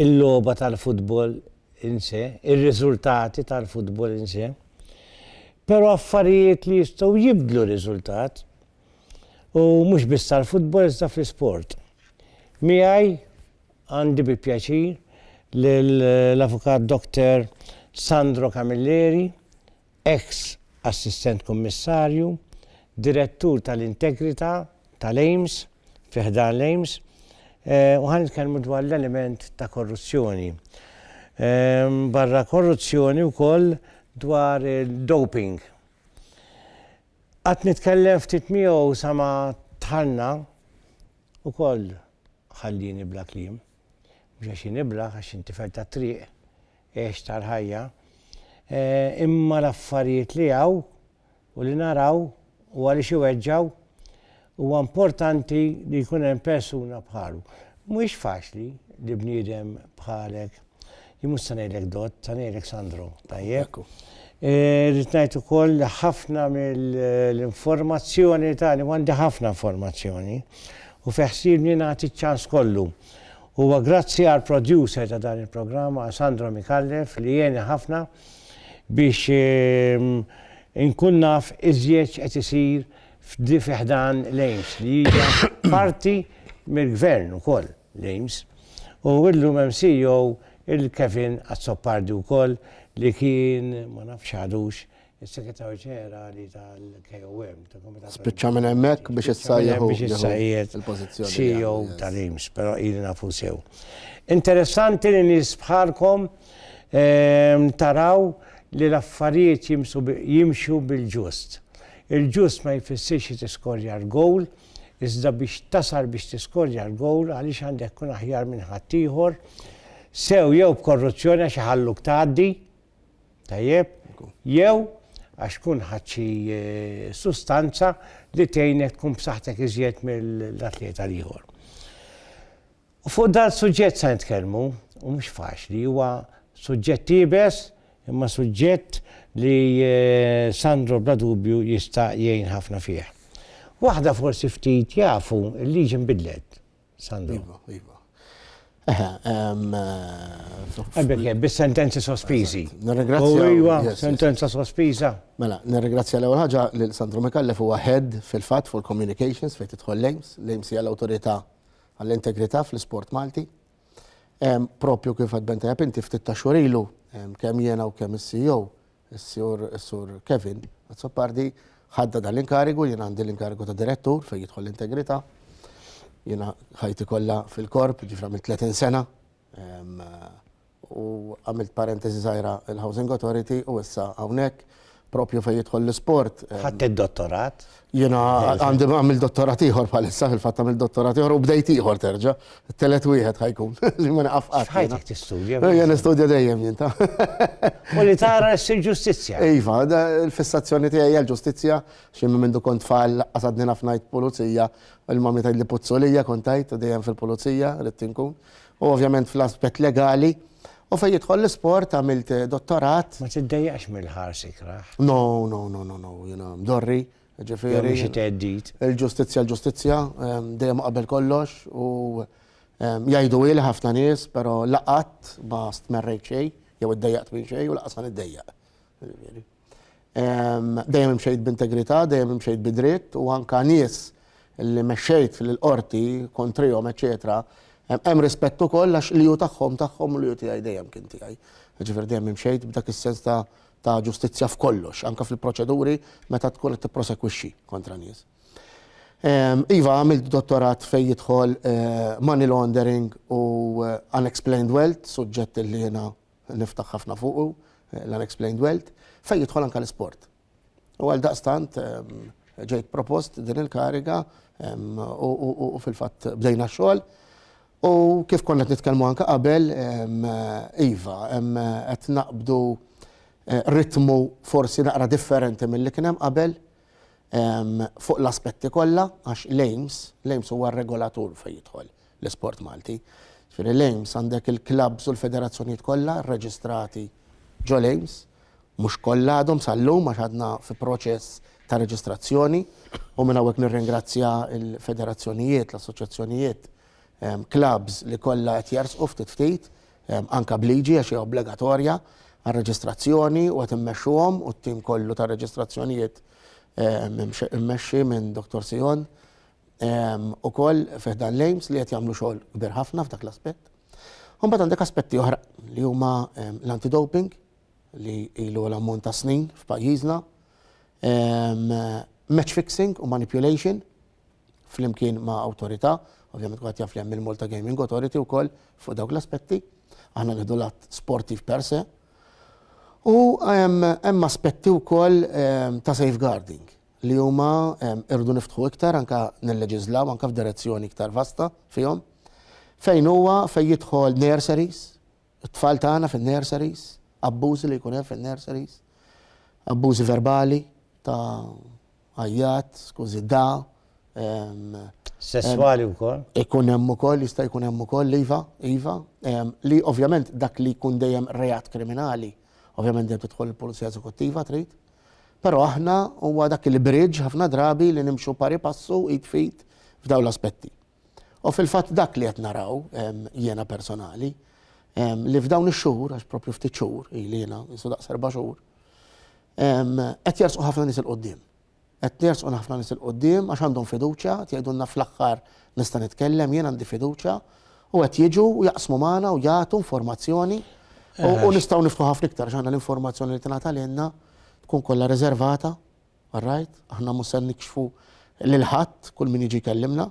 il-logħba tal-futbol in se, ir-riżultati tal-futbol in se, però affarijiet li jistgħu jibdlu r-riżultat, u mhux biss tal-futbol iżda fl-isport. Miegħi għandi bi pjaċir lill-Avukat Doktor Sandro Camilleri, eks Assistent Kummissarju, Direttur tal-Integrità tal-EIMS, fi ħdan l-EIMS, u ħa nitkellmu dwar l-element ta' korruzzjoni. Barra korruzzjoni wkoll dwar id-doping. Qatt nitkellem ftit miegħu sa ma dħalna, ukoll ħallieni bla kliem. Mhux għax jien iblah, għax jien tifel tat-triq, għex tal-ħajja, imma l-affarijiet li hawn u li naraw u għaliex iweġġgħu, huwa importanti li jkun hemm persuna bħalu. Mhuwiex faċli li bniedem bħalek, jien mhux se ngħidlek dott, se ngħidlek Sandro, tajjeb? Eh, rrid ngħid ukoll li ħafna mill-informazzjoni tagħni għandi ħafna informazzjoni u feħsibni nagħti ċans kollu. Huwa grazzi għall-producer ta' dan il-programm, Alessandro Micallef, li għeni ħafna biex inkun naf iżjed x'qed isir fi ħdan l-AIMS, li hija parti mill-Gvern ukoll l-AIMS. U illum hemm CEO il-Kevin Azzopardi wkoll li kien, ma nafx għadux, is-Segretarju Ġenerali tal-KOM, tal-Komitat. Spiċċa minn hemmhekk biex issa jieħu biex issa qiegħed il-pożizzjoni. CEO tal-IMS, però ili nafu sew. Interessanti li nies bħalkom ehm, taraw li l-affarijiet jimxu bil-ġust. Il-ġust ma jfissirx li tiskorja l-gowl, iżda biex tasal biex tiskorja l-gowl għaliex għandek kun aħjar minn ħaddieħor, sew jew b'korruzzjoni għax iħalluk tgħaddi, Tajjeb, jew għax tkun ħadt xi sustanza li tgħinek tkun b'saħħtek iżjed mill-atleta l-ieħor. U fuq dan suġġett se nitkellmu, u mhux faċli, huwa suġġett iebes, imma suġġett li eh, Sandro bla dubju jista' jgħin ħafna fih. Waħda forsi ftit jafu l-liġi nbidlet. Sandro. Iva, iva. Eħe, Ebbeke, bis-sentenzi sospiżi. Nirringrazzja. Iva, sentenza sospiża. Mela, nirringrazzja l-ewwel ħaġa lil Sandro Mikallef huwa head fil-fatt fuq communications fejn tidħol Lames, Lames hija l-awtorità għall-integrità fl-isport Malti. Propju kif għad benta inti ftit ta' xurilu kemm jiena u kemm is-CEO Is-sur is-sur Kevin Azzopardi ħadda dan l-inkarigu, jien għandi l-inkarigu ta' direttur fejn jidħol l-integrità. Jiena ħajti kollha fil-korp, ġifra minn 30 sena. Ehm, u għamilt parentesi żgħira il-Housing Authority u issa hawnhekk propju fejn jidħol l-isport. Ehm, Ħadd id-dottorat? Jiena għandi għamil dottorat ieħor bħalissa fil-fatt għamil dottorat ieħor u bdejt ieħor terġa'. Telet wieħed ħajkun li ma naqaf qatt. Ħajtek tistudja. Jien nistudja dejjem jien ta'. U li tara ssir ġustizzja. Iva, l-fissazzjoni tiegħi hija l-ġustizzja xi minn mindu kont tfal qasadni ħafna pulizija, il-mami tgħid li puzzolija kont tgħid dejjem fil-pulizija li tinkun. U ovvjament fl-aspett legali u fejn jidħol l-isport għamilt dottorat. Ma tiddejjaqx mill-ħars ikrah? No, no, no, no, no, jiena mdorri, ġifieri. Jew minn xi theddid. Il-ġustizzja l-ġustizzja, dejjem qabel kollox u jgħidu hi li ħafna nies, però la qatt ma stmerrejt xejn jew iddejjaqt minn xejn u lanqas ħa niddejjaq. Dejjem imxejt b'integrità, dejjem imxejt bi dritt u anke nies li mexxejt fil-qorti kontrihom, eċċetera, hemm rispett ukoll għax li hu tagħhom tagħhom u li hu tiegħi dejjem kien tiegħi. Jiġifieri dejjem imxejt b'dak is-sens ta' ta' ġustizzja f'kollox, anke fil-proċeduri meta tkun qed tipprosekwixxi kontra nies. Iva, għamilt dottorat fejn jidħol money laundering u unexplained wealth, suġġett li jiena niftaħ ħafna fuqu, l-unexplained wealth, fejn jidħol anke l-isport. U għaldaqstant ġejt propost din il-kariga u fil-fatt bdejna x-xogħol. U kif konna qed nitkellmu anke qabel, iva, qed naqbdu ritmu forsi naqra differenti milli kien hemm qabel. fuq l-aspetti kollha għax l-AIMS, l-AIMS huwa r-regolatur fejn jidħol l-isport Malti. Ġifieri l-AIMS għandek il-klabbs u l-federazzjonijiet kollha rreġistrati ġol-AIMS, mhux kollha għadhom sal-lum għax għadna fi proċess ta' reġistrazzjoni u minn hawnhekk nirringrazzja l-federazzjonijiet, l-assoċjazzjonijiet, klabbs li kollha qed jersqu ftit ftit anke b'liġi għax hija obbligatorja għar-reġistrazzjoni u qed immexxuhom u t-tim kollu tar-reġistrazzjonijiet immexxi minn Dottor Sion ukoll fih dan l-AIMS li qed jagħmlu xogħol kbir ħafna f'dak l-aspett. Imbagħad għandek aspetti oħra li huma l-anti-doping li ilu għal ammont ta' snin f'pajjiżna, match fixing u manipulation flimkien ma' awtorità, ovvjament kwatt jaf li hemm il-Malta Gaming Authority wkoll fuq dawk l-aspetti, aħna nieħdu l-att sportiv per se. U hemm aspetti wkoll ta' safeguarding li huma irdu niftħu iktar anke nilleġislaw anke f'direzzjoni iktar vasta fihom fejn huwa fejn jidħol nurseries, It-tfal tagħna fin-nurseries, abbużi li jkun hemm fin-nurseries, abbużi verbali ta' għajjat, skużi da. Sesswali wkoll? Ikun hemm ukoll, jista' jkun hemm ukoll, iva, iva. Li ovvjament dak li jkun dejjem reat kriminali, ovvjament dejjem tidħol il-pulizija eżekuttiva trid. Però aħna huwa dak il-bridge ħafna drabi li nimxu pari passu id fit f'dawn l-aspetti. U fil-fatt dak li qed naraw jiena personali, li f'dawn ix-xhur, għax propju ftit xhur, ili jiena jisu daqs erba' xhur, qed jersqu ħafna nies il-qudiem. Qed jersqu ħafna nies il-qudiem għax għandhom fiduċja, qed jgħidulna fl-aħħar nista' nitkellem, jien għandi fiduċja, u qed jiġu u jaqsmu magħna u jagħtu informazzjoni u nistgħu niftħu ħafna iktar għax aħna l-informazzjoni li tingħata lilna tkun kollha riservata. All right, aħna mhux se nikxfu lil ħadd kull min jiġi jkellimna,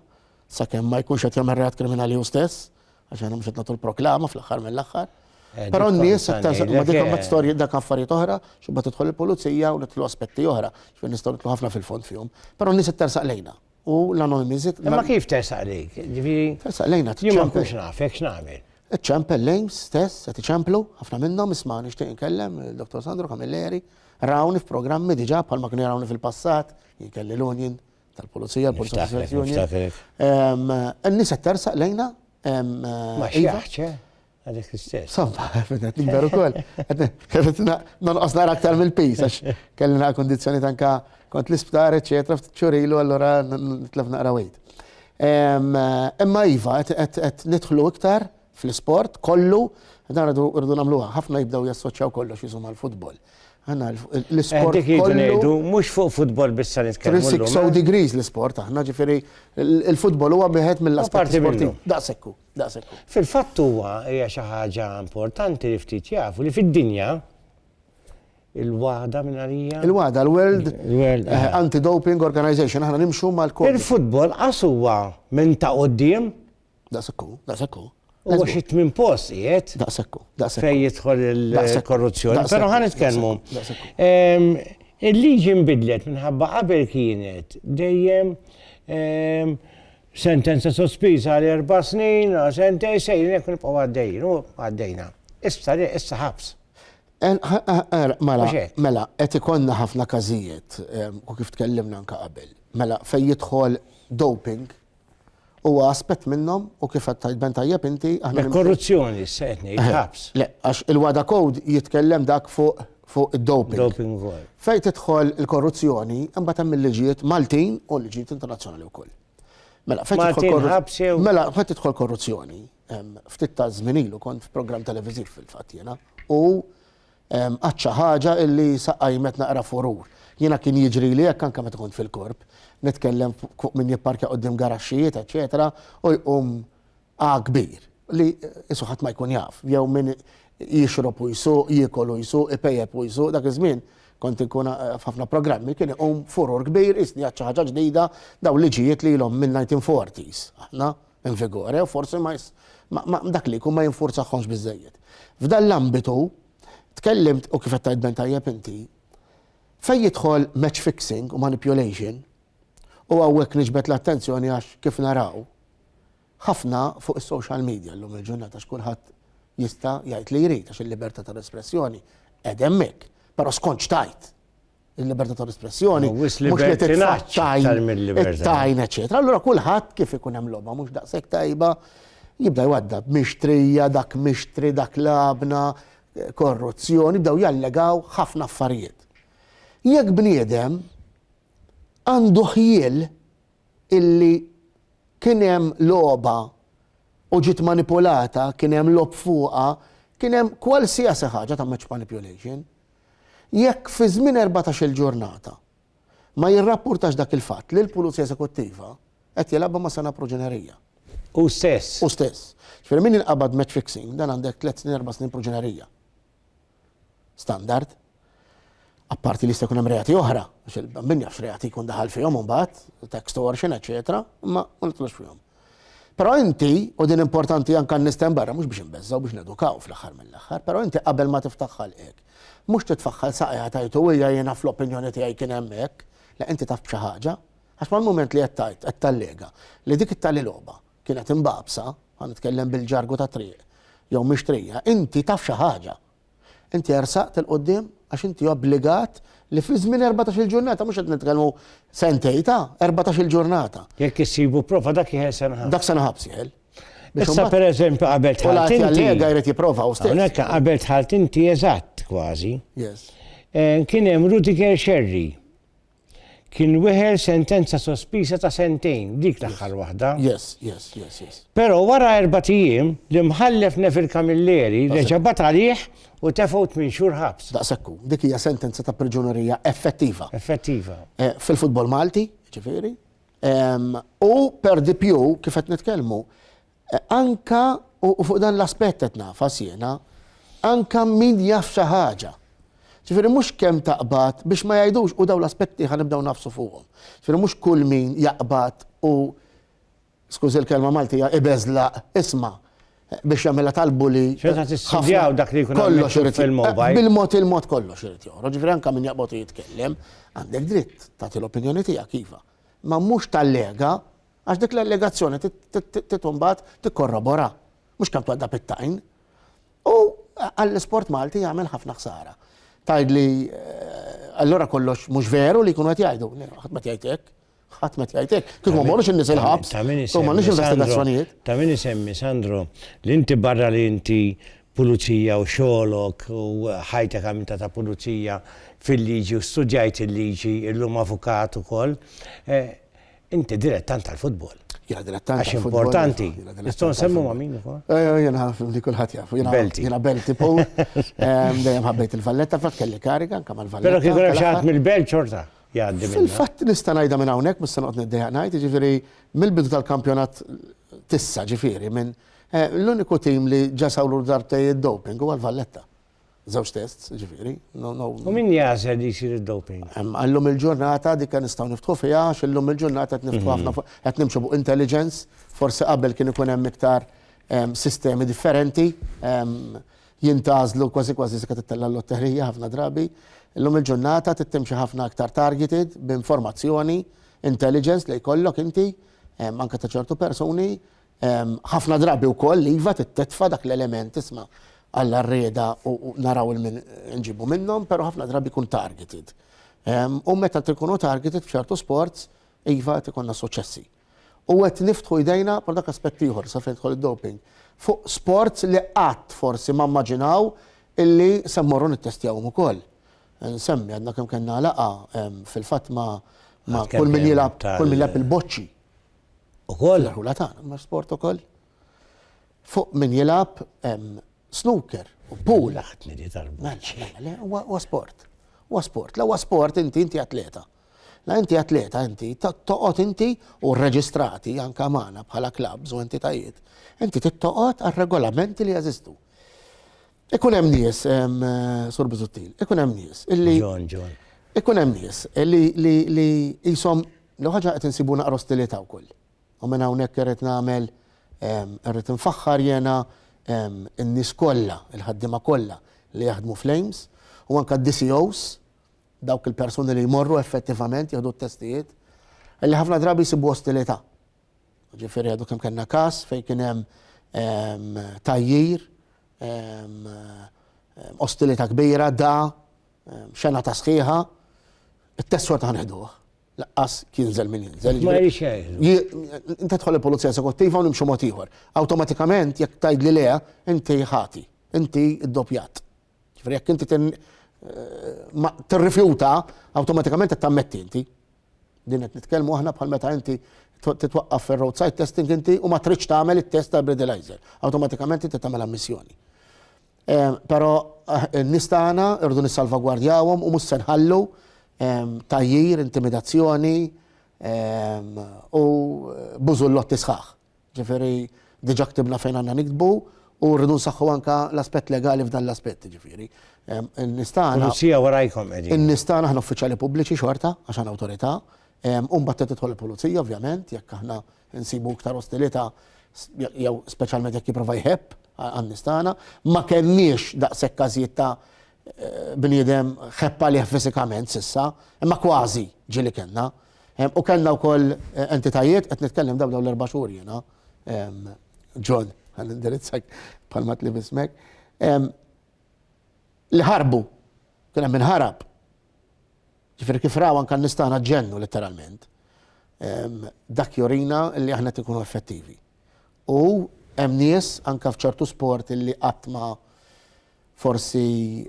sakemm ma jkunx qed jagħmel reat kriminali hu stess, għax aħna mhux qed nagħtu l-proklama fl-aħħar mill-aħħar. Eh, Però n-nies iktar ma dikom ma storji dak affarijiet oħra, xubba tidħol il-pulizija u nitlu aspetti oħra, xfin nistgħu nitlu ħafna fil-fond fihom. Però n-nies iktar saqlejna. u l-anonimiżit. Imma kif tersaq lejk? Ġifieri. Tersaq lejna tiċċempel. Jien ma nkunx nafek x'nagħmel. Iċċempel lejn stess qed iċemplu ħafna minnhom isma' nixtieq inkellem il-Dottor Sandro Camilleri rawni f'programmi diġà bħalma kienu jarawni fil-passat, jien kelli l-union tal-pulizija, l-pulizija. N-nies qed tersaq lejna. Ma xi ħaġa. Għadek l-istess. Somma, għet nikber u koll. Għet nonqos nara aktar mill-pis, għax kelli naqra kondizjoni tanka kont l-isptar, eccetera, ċurilu, allora nitlef naqra wejt. Imma Iva, għet nitħlu iktar fl-sport, kollu, dan rridu namluħa, ħafna jibdaw jassoċjaw kollox jisum għal-futbol. Għanna l-sport. Dik jgħidu mux fuq futbol bissa nitkellmu. 360 degrees l-sport, għanna ġifiri, il-futbol huwa biħet mill-asport sportiv. Daqsekku. Daqshekk hu. Fil-fatt huwa, hija xi ħaġa importanti li ftit jafu li fid-dinja il-WADA minn għalija. Il-WADA, l-World eh, Anti-Doping Organization, aħna nimxu mal-kod. Il-futbol qas huwa minn ta' qoddim. Daqsekku, daqsekku. U xi tmien post qiegħed. Daqsekku, daqsekku. Fejn jidħol il-korruzzjoni. Però ħan nitkellmu. Il-liġi nbidlet minħabba qabel kienet dejjem Sentenza sospiża għal erba' snin, għal sentejn, sejrin hekk nibqgħu għaddejjin u għaddejna. Issa le, issa ħabs. Mela, mela, qed ikollna ħafna każijiet, u kif tkellimna anke qabel. Mela, fejn jidħol doping, huwa aspett minnhom u kif qed tajt ben tajjeb inti aħna. Korruzzjoni, se qed ngħid ħabs. Le, għax il-wada code jitkellem dak fuq fuq id-doping. Doping ukoll. Fejn tidħol il-korruzzjoni, imbagħad hemm il-liġijiet Maltin u l-liġijiet internazzjonali wkoll. Mela, fejn tidħol Maltin korru- ħabs jew Mela, fejn tidħol korruzzjoni, em, ftit ta' żmien ilu kont f'programm televiżiv fil-fatt jiena, u em, qatt xi ħaġa illi saqajmet naqra furur. Jiena kien jiġri li hekk anke meta kont fil-korp, nitkellem fuq min jipparkja qudiem garaxxijiet, eċetera, u jqum A kbir, li qisu ħadd ma jkun jaf, jew min jixrob u jsuq, jiekol u jsuq, ipejjep u jsuq, dak iż-żmien kont inkun f'ħafna programmi, kien iqum furur kbir, qisni għad xi ħaġa ġdida, dawn liġijiet li ilhom min-nineteen forties aħna in vigore u forsi ma dak li jkun ma jinfurzaħhomx biżżejjed. F'dan l-ambitu tkellimt u kif qed tgħid Ben tajjeb inti, fejn jidħol match fixing u manipulation, u hawnhekk niġbed l-attenzjoni għax kif naraw, ħafna fuq is-social media llum il-ġurnata għax kulħadd jista' jgħid li jrid għax il-libertà tal-espressjoni qegħda hemmhekk. Però skont x'tgħid? Il-libertà tal-espressjoni mhux li titfaċċaj it-tajn eċetera. Allura kulħadd kif ikun hemm logħba mhux daqshekk tajba jibda jwadda mixtrija dak mixtri dak labna korruzzjoni bdew jallegaw ħafna affarijiet. Jekk bniedem għandu ħjiel illi kien hemm logħba u ġiet manipulata, kien hemm logħob fuqha, kien hemm kwalsiasi ħaġa ta' match manipulation. Jekk fi żmien erbatax-il ġurnata ma jirrappurtax dak il-fatt lill-Pulizija Eżekuttiva, qed jilgħabha ma' sengħa proġinerija. Hu stess. Hu stess. Jiġifieri min jinqabad match fixing dan għandek tliet snin, erba' snin proġinerija. standard. Apparti li jista' jkun hemm reati oħra, għax min jafx reati jkun daħal fihom imbagħad, ta' extortion, eċetera, imma ma nitlux fihom. Però inti, u din importanti anke nisten barra mhux biex inbeżżgħu biex nedukaw fl-aħħar mill-aħħar, però inti qabel ma tiftaħ ħalqek. Mhux titfaħħal saqajha tajtu hija jiena fl-opinjoni tiegħi kien hemm hekk, le inti taf b'xi ħaġa. Għax mal-mument li qed tgħid, qed tallega li dik it-tali logħba kienet imbagħbsa, ħa nitkellem bil-ġargu tat-triq, jew mixtrija, inti taf xi ħaġa. Inti ersaqt 'il quddiem għax inti obbligat li fi żmien erbatax-il ġurnata, mhux qed nitkellmu sentejn ta', erbatax-il ġurnata. Jekk issibu prova dak jieħel sena ħabs. Dak sena ħabs jieħel. Issa pereżempju qabel tħalt inti. U l-għati għallega jrid jipprova u stess. Hawnhekk qabel tħalt inti eżatt kważi. Yes. Eh, kien hemm Rudiger Sherry. Kien weħel sentenza sospiża ta' sentejn, dik l-aħħar waħda. Yes, yes, yes, yes. Però wara erba' ijiem, l-Imħallef Neville Camilleri reġa' bat għalih u tefgħu tmien xhur ħabs. Daqsekku, dik hija sentenza ta' priġunerija effettiva. Effettiva. Eh, fil-futbol Malti, ġifieri. U per dipju, kif qed nitkellmu, Anke, u fuq dan l-aspett qed nagħfas jiena, anke min jaf xi ħaġa. Ġifieri mhux kemm taqbad biex ma jgħidux u dawn l-aspetti ħa nibdew nagħfsu fuqhom. Ġifieri mhux kull min jaqbad u skużi l-kelma Maltija ibeżlaq isma' biex jagħmilha tal-bully. Xorta tistudjaw dak li jkun kollox irid fil-mobile. Bil-mod il-mod kollox irid joħroġ. Ġifieri anke min jaqbad u jitkellem għandek dritt tagħti l-opinjoni tiegħek iva. Ma mhux tallega Għax dik l-allegazzjoni trid imbagħad tikkorrobora, mhux kemm twaddab it-tajn. U għall-isport Malti jagħmel ħafna ħsara. Tgħidli eh, allura kollox mhux veru li jkunu qed jgħidu, ħadd ma tgħid hekk. Ħadd ma tgħid hekk. Kieku ma morrux in-nies il-ħabs, kieku ma nix investigazzjonijiet. Ta' min isemmi Sandro, li inti barra li inti pulizija u xolok u ħajtek għamilta ta' pulizija fil-liġi u studjajt il-liġi illum avukat ukoll. Eh, Inti dilettant tal-futbol. Jena dilettant. Għax importanti. Nistgħu nsemmu ma' min ukoll? Eh, eh, jena li kulħadd jaf. Belti. Jena belti pow. Ehm, dejjem ħabbejt il-valletta, fatt kelli kariga anke mal-valletta. Però kieku hemm xi ħadd mill-belt xorta jgħaddi. Fil-fatt nista' ngħidha minn hawnhekk mhux se noqgħod niddejjaq ngħid, jiġifieri mill-bidu tal-kampjonat tissa ġifieri minn eh, l-uniku tim li ġasawlu darbtej id-doping huwa l-Valletta. Żewġ tests, ġifieri. U min jażel li jsir id-doping? Għallum il-ġurnata dik kan nistgħu niftħu fiha għax illum il-ġurnata qed niftħu ħafna mhm. qed nimxu fuq intelligence, forsi qabel kien ikun hemm iktar sistemi differenti jintazlu kważi kważi se tittella l-lotterija ħafna drabi. Illum il-ġurnata tittimxi ħafna aktar targeted b'informazzjoni, intelligence li jkollok inti, anke ta' ċertu persuni, Ħafna drabi wkoll iva titfa' dak l-element isma' Alla rrieda u naraw il min nġibu minnhom, però ħafna drabi jkun targeted. U meta tkunu targeted f'ċertu sports, iva qed ikonna suċessi. U qed niftħu jdejna pal dak aspett ieħor sa fejn jidħol id-doping fuq sports li qatt forsi ma mmaġinaw illi se mmorru nittestjawhom ukoll. Nsemmi għadna kemm kellna laqgħa fil-fatt ma' kull min jilgħab kull min jilgħab il-boċċi. ukoll. L-irħula tagħna ma' sport ukoll. Fuq min jilgħab hemm snooker u pool. Laħtni di tal-buċ. Le, huwa sport. Huwa sport. La huwa sport inti inti atleta. La inti atleta inti toqgħod inti u rreġistrati anka magħna bħala klabs u entitajiet. Inti tittoqgħod għar-regolamenti li jeżistu. Ikun hemm nies, Sur Bizuttil, ikun hemm nies illi. John, John. Ikun hemm nies li jisom L-ewwel ħaġa qed insibu naqra ostilità wkoll. U minn hawnhekk irrid nagħmel irrid infaħħar jiena n-nies kollha, il-ħaddiema kollha li jaħdmu fl-AIMS u anke d-DCOs, dawk il-persuni li jmorru effettivament jieħdu t-testijiet, li ħafna drabi jsibu ostilità. Ġifieri għadu kemm kellna każ fejn kien hemm tgħajjir, ostilità kbira, da, Xena ta' sħiħa, it-test xorta ħanħduh. Laqqas jinżel min jinżel. Ma jirix jgħid. Inta tħol il-pulizija esekuttiva u nimxu mod ieħor. Awtomatikament jekk tajd li le, inti ħati, inti ddoppjat. Ġifieri jekk inti eh, tirrifjuta, awtomatikament qed tammetti inti. Din qed nitkellmu aħna bħal meta inti titwaqqaf fir-roadside testing inti u ma tridx tagħmel it-test tal-breathalyzer. Awtomatikament inti tagħmel ammissjoni. Però n-nies tagħna rridu nissalvagwardjawhom u mhux se nħallu tgħajjir, intimidazzjoni u bużullotti sħaħ. Jiġifieri diġà ktibna fejn għandna niktbu u rridu nsaħħu anke l-aspett legali f'dan l-aspett, jiġifieri n-nies tagħna. Pulizija warajkom qegħdin. In-nies tagħna aħna uffiċjali pubbliċi xorta għax aħna awtorità u mbagħad trid tidħol il-pulizija ovvjament jekk aħna Insibu iktar ostilità jew speċjalment jekk jipprova jħebb għan-nies tagħna, ma kellniex daqshekk każijiet ta' eh, bniedem ħepp għalih fiżikament sissa, imma kważi ġieli kellna. U kellna wkoll eh, entitajiet qed nitkellem dawn dawn l-erba' xhur jiena. John, għal indirizzak palmat li bismek. Li ħarbu, kien hemm inħarab. Ġifieri kif raw anke n-nies tagħna ġennu litteralment. Dak jurina li aħna qed inkunu effettivi. U hemm nies anke f'ċertu sport li qatt ma forsi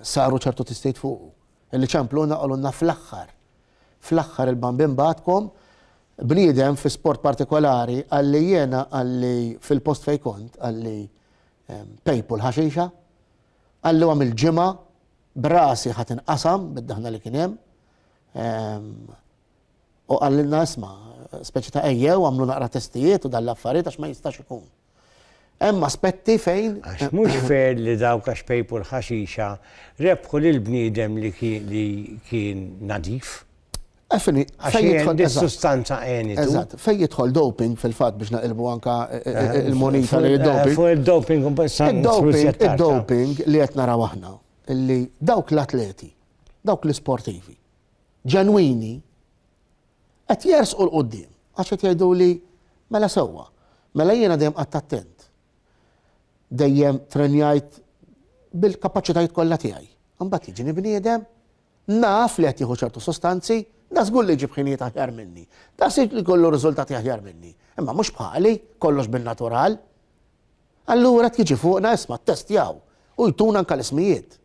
saru ċertu tistejt fuqu. Illi ċempluna qalulna fl-aħħar. Fl-aħħar il-bambin bagħatkom bniedem fi sport partikolari qalli jiena qalli fil-post fejn kont qalli pejpu l-ħaxixa qalluha mill-ġimgħa b'rasi ħa tinqasam bid-daħna li kien hemm. U qallilna isma' speċi ta' ejjew għamlu naqra testijiet u dal-affarijiet għax ma jistax ikun. Hemm aspetti fejn. Għax mhux fair li dawk għax pejpu l-ħaxixa rebħu lil bniedem li kien nadif. Għafini, fejn jidħol. Dis-sustanza għeni. Eżatt, fejn jidħol doping fil-fat biex naqilbu anka eh, eh, eh, il-monita li doping. Fuq il-doping, il-doping li qed naraw aħna, li dawk l-atleti, dawk l-sportivi, ġenwini, qed jersqu l-qoddim, għax qed jgħidu li mela sewwa, mela jiena dejjem qatt attent. Dejjem trenjajt bil-kapaċitajiet kollha tiegħi. Imbagħad jiġini bniedem Naf li qed jieħu ċertu sustanzi, da żgur li jġib ħinijiet aħjar minni. Da żgur li jkollu riżultati aħjar minni. Imma mhux bħali, kollox bin-natural. Allura qed jiġi fuqna isma' ttestjaw u jtuna anke l-ismijiet.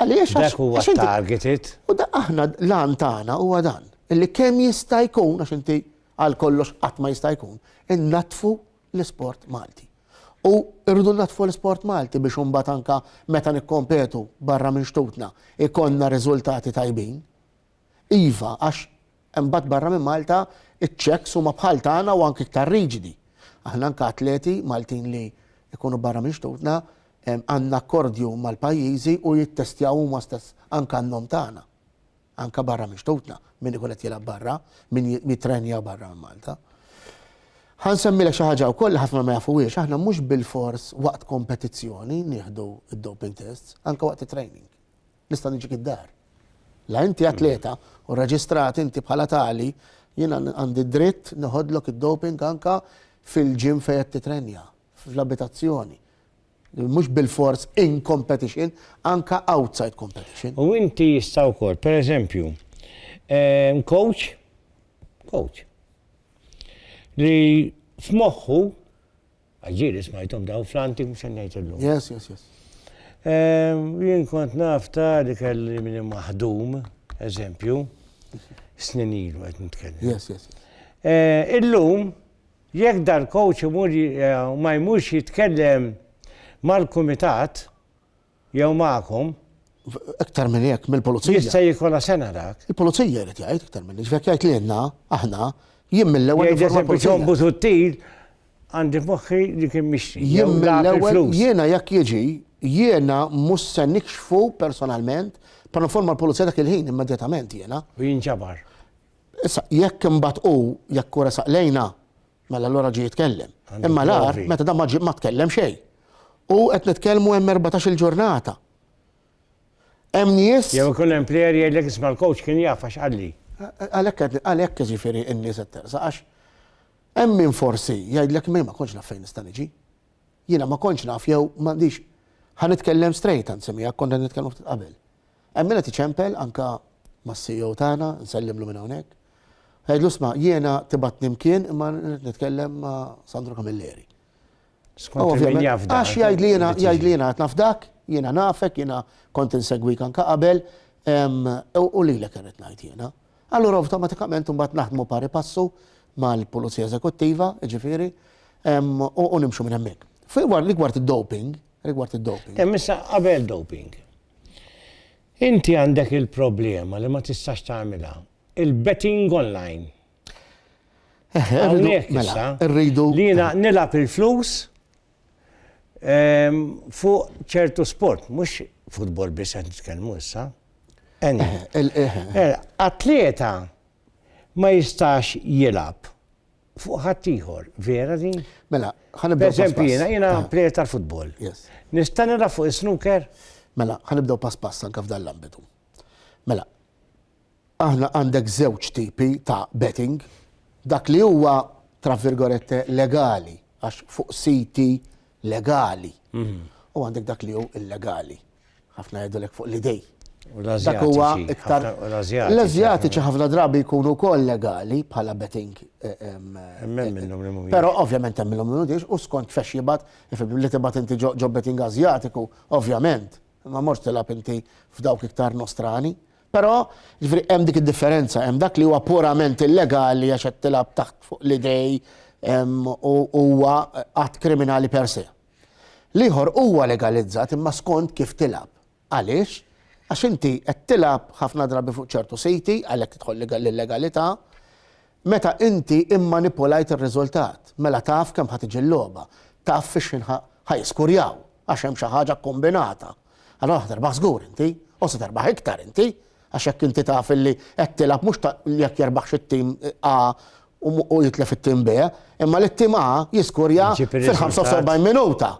Għaliex għax. Dak huwa targeted. U da aħna l-għan tagħna huwa dan. Illi kemm jista' jkun għax inti għal kollox qatt ma jista' jkun, innatfu l-isport Malti. U rridu naddfu l-isport Malti biex imbagħad anke meta nikkompetu barra minn xtutna jkollna riżultati tajbin. Iva, għax imbagħad barra minn Malta iċ-Ċeks huma bħal tagħna u anke iktar riġidi. Aħna anke atleti Maltin li jkunu barra minn xtutna għandna akkordju mal-pajjiżi u jittestjaw huma stess anke għan-nom tagħna. anke barra minn xtutna, min ikun qed jilgħab barra, min jittrenja barra minn Malta. Ħa nsemmilek xi ħaġa wkoll li ħafna ma jafuhiex, aħna mhux bilfors waqt kompetizzjoni nieħdu d-doping tests, anke waqt it-training. Nista' niġik id-dar. La inti atleta u rreġistrat inti bħala tali, jien għandi dritt neħodlok id-doping anke fil-gym fejn qed titrenja, fl-abitazzjoni. Mhux bilfors in competition, anke outside competition. U inti jista' wkoll, pereżempju, ehm, coach, coach, li f'moħħu, għagġiri smajtom daw fl-anti mhux se ngħid illum. Yes, yes, yes. Ehm, jien kont naf ta' li kelli minn maħdum, eżempju, snin ilu qed nitkellem. Yes, yes. Eh, illum, Jekk dal-kowċ imur jew ma jmurx jitkellem mal-kumitat jew magħkom. Iktar minn hekk, mill-pulizija. Jista' jkollha sena dak. Il-pulizija jrid jgħid iktar minn hekk. Jekk jgħid lilna, aħna, jien mill-ewwel. Jgħidha sempliċement Busuttil għandi f'moħħi li kien mixtri. Jien mill-ewwel jiena jekk jiġi, jiena mhux se nikxfu personalment, però informa l-pulizija dak il-ħin immedjatament jiena. U jinġabar. Issa, jekk imbagħad hu, jekk hu resaq lejna, mela allura ġie jitkellem. Imma l-agħar, meta dan ma ġie, ma tkellem xejn. U qed nitkellmu hemm erbatax-il ġurnata. Hemm nies. Jew ikun hemm plejer jgħidlek isma' l-coach kien jaf għax qalli. Għalhekk qed għalhekk jiġifieri n-nies qed tersaq għax hemm min forsi jgħidlek min ma kontx naf fejn nista' niġi. Jiena ma kontx naf jew m'għandix ħa nitkellem straight anzi miegħek kont qed nitkellmu ftit qabel. Hemm min qed iċempel anke mas-CEO tagħna, nsellimlu minn hawnhekk. Għidlu sma' jiena tibgħatni mkien imma rrid nitkellem ma' Sandro Camilleri. Skont il-min jafda. Għax jgħidli jiena jgħidli jiena qed nafdak, jiena nafek, jiena kont insegwik anke qabel u lilek irrid ngħid jiena. Allura awtomatikament imbagħad naħdmu pari passu mal-Pulizija Eżekuttiva, jiġifieri, u nimxu minn hemmhekk. Fir-rigward id-doping, rigward id-doping. Hemm issa qabel doping. Inti għandek il-problema li ma tistax tagħmilha. Il-betting online. Hawnhekk mela, issa rridu li jiena nilgħab il-flus ehm, fuq ċertu sport, mhux futbol biss qed nitkellmu issa. Atleta ma jistax jilab fuq ħaddieħor, vera din? Mela, ħanibdew. Eżempju, jiena jiena ah. plejer tal-futbol. Nista' nilgħab fuq is-snooker? Mela, ħanibdew pass pass anke f'dan l-ambitu. Mela, aħna għandek żewġ tipi ta' betting, dak li huwa tra virgolette legali, għax fuq siti legali, mhm. u għandek dak li hu illegali. Ħafna jgħidulek fuq l-idej. Dak huwa iktar. L-Azjatiċi ħafna drabi jkunu wkoll legali bħala betting. Eh, eh, eh, però ovvjament hemm minnhom li u skont fex jibgħat li tibgħat inti ġo betting Azjatiku, ovvjament. Ma morx tilab inti f'dawk iktar nostrani. Però ġifri hemm dik id-differenza, hemm dak li huwa purament illegali għax qed tilab taħt fuq l-idej huwa att kriminali per se. L-ieħor huwa legalizzat imma skont kif tilgħab. Għaliex? Għax inti qed tilgħab ħafna drabi fuq ċertu siti, għalhekk tidħol l-illegalità, meta inti immanipulajt ir-riżultat, mela taf kemm ħa tiġi l-logħba, taf fix-xħin ħa jiskurjaw, għax hemm xi ħaġa kkombinata. Allora ħa terbaħ żgur inti, u se terbaħ iktar inti, għax jekk inti taf illi qed tilgħab mhux ta' jekk jerbaħx it-tim A u jitlef it-tim B, imma li t-tim A jiskurja fil-45 minuta.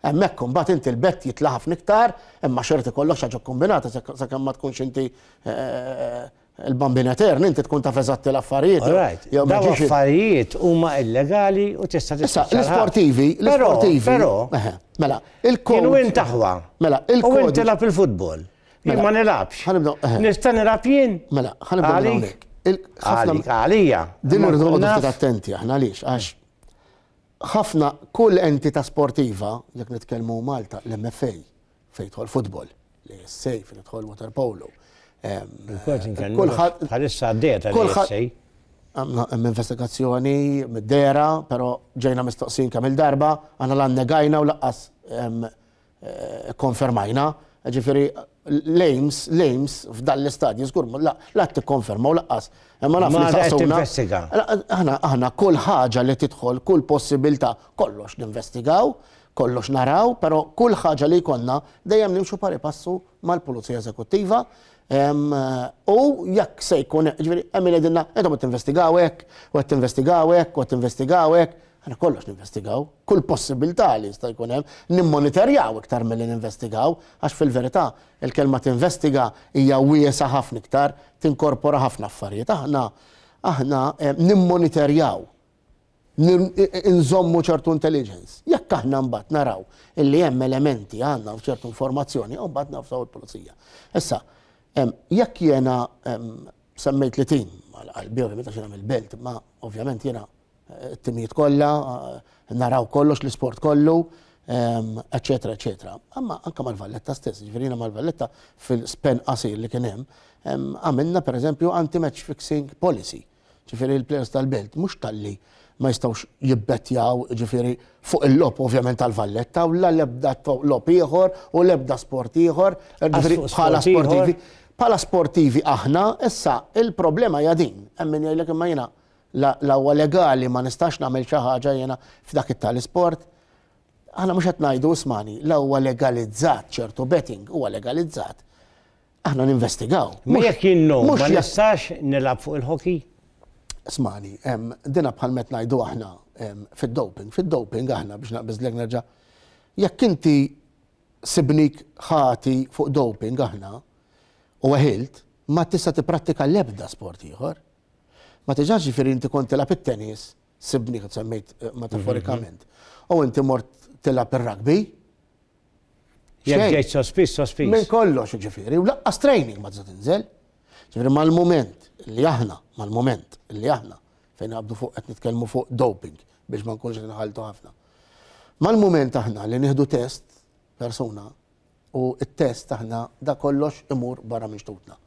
Hemmhekk imbagħad inti l-bett jitla' ħafna iktar, imma xorti kollox ħaġa kombinata sakemm ma tkunx inti eh, Il-Bambin Etern, inti tkun taf eżatti l-affarijiet. All right. Jew ma Daw ġiex- affarijiet huma illegali u tista' Issa, tispiċċa l-ħabs. l-isportivi, Però, l-isportivi. però, Eħe, Mela, jien il-kod. win taħwa. Mela, U inti il-kod. lab il-futbol. Jien Mela, ma nilabx. ħanibdew- eħe. Nista' nilab jien? Mela, ħanibdew minn Għalik. hawnhekk. Il- ħafna- Għalik, għalija. Din Ma irridu nkun noqogħdu naf. ftit attenti aħna għaliex għax ħafna kull entità sportiva jekk nitkellmu Malta l-MFA fejn jidħol football, li jessej fejn jidħol waterpolo. Kulħadd bħalissa għaddiet għal hemm investigazzjoni mid-dera, però ġejna mistoqsin kemm il-darba, għandna lan negajna u laqqas eh, konfermajna. Ġifieri l-aims, l-aims f'dan l-istadju, zgur, la t-konferma u laqqas. Ma naf li saqsuna. Aħna, aħna kull ħaġa li tidħol, kull possibilità, kollox ninvestigaw, kollox naraw, pero kull ħaġa li jkollna dejjem nimxu pari passu mal-Pulizija Eżekuttiva. U jekk se jkun, ġifieri hemm qegħdilna qed qed tinvestigaw hekk, u qed tinvestigaw hekk, u qed tinvestigaw hekk, aħna kollox ninvestigaw, kull possibilità li jista' jkun hemm, nimmonitorjaw iktar milli ninvestigaw, għax fil-verità il-kelma tinvestiga hija wiesgħa ħafna iktar, tinkorpora ħafna affarijiet. Aħna aħna nimmonitorjaw. li nżommu ċertu intelligence. Jekk aħna mbagħad naraw illi hemm elementi għandna u ċertu informazzjoni, u mbagħad nafsaw il-pulizija. Issa, jekk jiena semmejt li tim għal-qalbi, ovvijament għax nagħmel belt, ma ovvjament jiena eh, t-timijiet kollha, eh, naraw kollox l-isport kollu, eccetera, eccetera. Amma anka mal-Valletta stess, ġverina mal-Valletta fil-spen qasir li kien hemm, għamilna per eżempju anti-match fixing policy Ġifieri l-players tal-Belt mhux talli ma jistgħux jibbettjaw ġifieri fuq il-logħob ovvjament tal-Valletta u la l-ebda logħob ieħor u l-ebda sport ieħor ġifieri bħala sportivi. Bħala sportivi aħna issa il-problema hija din. Hemm min jgħidlek imma jiena la huwa legali ma nistax nagħmel xi ħaġa jiena f'dak it-tal isport. Aħna mhux qed ngħidu ismani, la huwa legalizzat ċertu betting huwa legalizzat. Aħna ninvestigaw. Ma jekk jien no, ma nistax nilgħab fuq il-hockey? Smani, dina bħal met ngħidu aħna fid-doping. Fid-doping aħna biex naqbiż l nerġa' jekk inti sibnik ħati fuq doping aħna u għahilt, ma tista' tipprattika l-ebda sport ieħor. Ma tiġax ġifieri inti kont tilgħab it-tennis Sibni qed semmejt eh, metaforikament. Mhm. U inti mort tilab ir-rugby. Jekk ġejt sospiż, sospiż. Minn kollox ġifieri, u laqqas training ma tista' tinżel. Ġifieri mal-mument li aħna, mal-mument li aħna fejn għabdu fuq qed nitkellmu fuq doping biex ma nkunx nħaltu ħafna. Mal-mument aħna li nieħdu test persuna U t-test aħna dak kollox imur barra minn xtutna.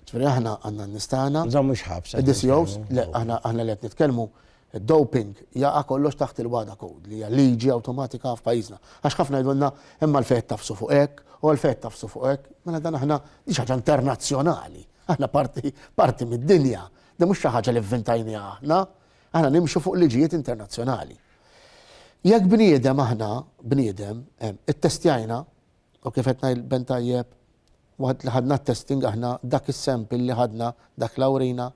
Ġifieri aħna għandna n-nies tagħna. Nżommu x-xħabs. Id-DCOs, le, aħna li qed nitkellmu, id-doping jaqa' kollox taħt il-WADA code li hija liġi awtomatika f'pajjiżna. Għax ħafna jgħidulna imma għalfejn qed tafsu fuq hekk u għalfejn qed tafsu fuq hekk. Mela dan aħna din xi ħaġa internazzjonali. Aħna parti mid-dinja. Din mhux xi ħaġa li vvintajniha aħna. Aħna nimxu fuq liġijiet internazzjonali. Jekk bniedem aħna, bniedem, ittestjajna, u kif qed ngħid ben tajjeb, waqt li ħadna t-testing aħna dak is-sample li ħadna dak l-awrina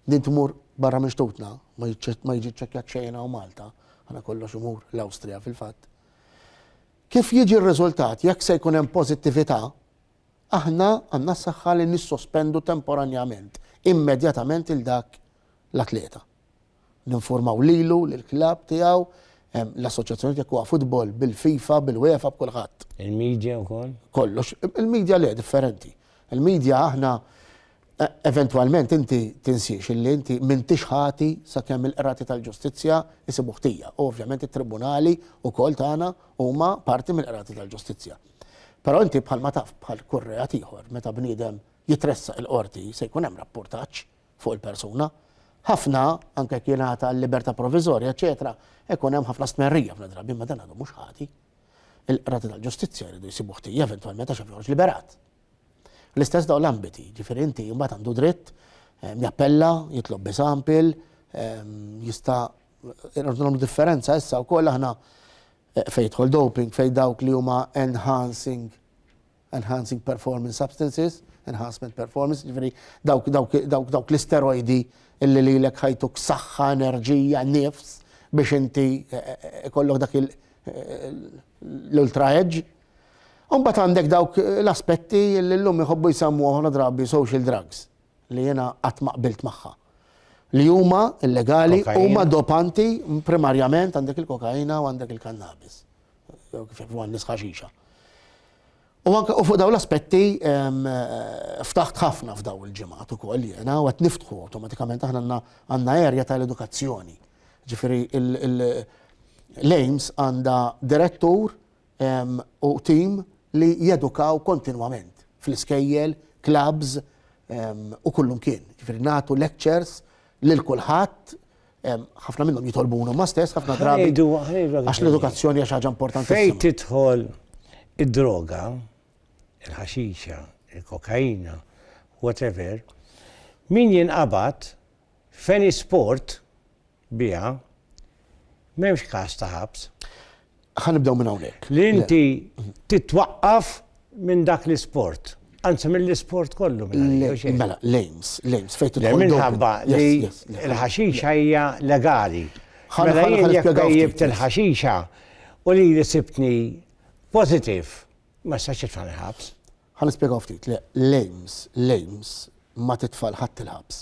din tmur barra minn xtutna, ma jiġi ċċekkjat xejn hawn Malta, aħna kollox imur l-Awstrija fil-fatt. Kif jiġi r-riżultat jekk se jkun hemm pożittività, aħna għandna s-saħħa li nissospendu temporanjament, immedjatament il dak l-atleta. Ninfurmaw lilu, lill-klabb tiegħu, l-assoċjazzjonijiet jekk huwa futbol, bil-FIFA, bil-UEFA, b'kulħadd. Il-media wkoll? Kollox. Il-media le, differenti. Il-media aħna e, eventwalment inti tinsiex illi inti m'intix ħati sakemm il-qrati tal-ġustizzja isibu ħtija. U ovvjament it-tribunali wkoll tagħna huma parti mill-qrati tal-ġustizzja. Però inti bħalma taf bħal kurreat ieħor meta bniedem jitressa il-qorti se jkun hemm rapportaġġ fuq il-persuna. Ħafna, anke jekk jingħata l-libertà proviżorja, eċetera, ikun hemm ħafna stmerrija ħafna drabi ma dan għadu mhux ħati. Il-qrati tal-ġustizzja jridu jsibu ħtija eventwalment għax joħroġ liberat. L-istess dawn l-ambiti, ġifieri inti mbagħad għandu dritt ehm, jappella, jitlob bisampil, ehm, jista' irridu differenza issa wkoll aħna eh, fejn doping, fejn dawk li huma enhancing enhancing performance substances, enhancement performance, ġifiri dawk, dawk, dawk, dawk l-isteroidi illi li l-ek ħajtuk saħħa, enerġija, nifs biex inti eh, eh, kollok dak eh, l-ultra edge. Umbat għandek dawk l-aspetti illi l-lum jħobbu jisammu għoħna drabi social drugs li jena għatma qbilt maħħa li huma illegali, huma dopanti primarjament għandek il-kokaina u għandek il-kannabis. kif għannis ħaxixa. U anke u fuq daw l-aspetti ftaħt ħafna f'daw il-ġimgħat ukoll jiena u qed niftħu awtomatikament aħna għandna erja tal-edukazzjoni. Ġifieri l-AIMS għandha direttur u tim li jedukaw kontinwament fl-iskejjel, clubs u kullum kien. Ġifieri nagħtu lectures lil kulħadd Ħafna minnhom jitolbuna huma stess, ħafna drabi. Għax l-edukazzjoni hija xi ħaġa importanti. Fejn tidħol id-droga, il-ħaxixa, il-kokaina, whatever, min jinqabad f'eni sport biha m'hemmx każ ta' ħabs. Ħa nibdew minn hawnhekk. Li inti titwaqqaf minn dak l-isport. Anzi mill-isport kollu minn Mela, l-aims, l-aims, fejn tidħol. Minħabba li l-ħaxixa hija legali. Mela jien jekk jibt il-ħaxixa u li li sibtni positiv, ma sax jitfani ħabs. Ħa nispjegaw ftit, l-aims, l-aims ma titfal ħadd il-ħabs.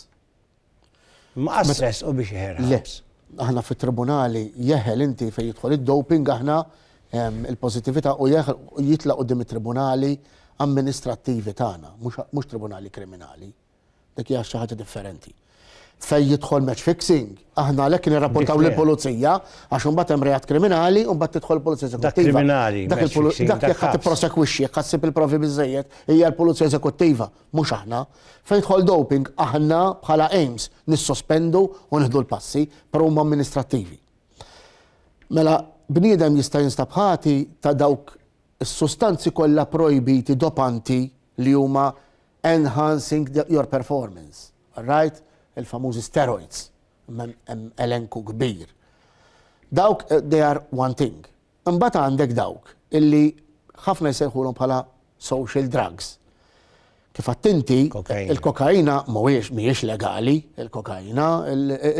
Mqas resqu biex jeħel ħabs. Aħna fit-tribunali jeħel inti fejn jidħol id-doping aħna il-pożittività u jitlaq quddiem it-tribunali amministrattivi tagħna, mhux tribunali kriminali. Dik hija xi ħaġa differenti. Fejn jidħol match fixing, aħna għalhekk nirrapportaw lill-pulizija għax imbagħad hemm reat kriminali u mbagħad tidħol il-pulizija eżekuttiva. Dak kriminali. Dak jekk ħadd tipprosekwixxi, jekk ħadd sib il-provi biżejjed, hija l-pulizija eżekuttiva mhux aħna. Fejn tidħol doping, aħna bħala aims nissospendu u nieħdu l-passi, però huma amministrattivi. Mela, bniedem jista' jinstab ħati ta' dawk is-sustanzi kollha projbiti dopanti li huma enhancing your performance, right? Il-famużi steroids, hemm elenku kbir. Dawk, eh, they are one thing. Imbagħad għandek dawk illi ħafna jsejħulhom bħala social drugs. Kif għedt inti, il-kokaina mhuwiex mhijiex legali, il-kokaina,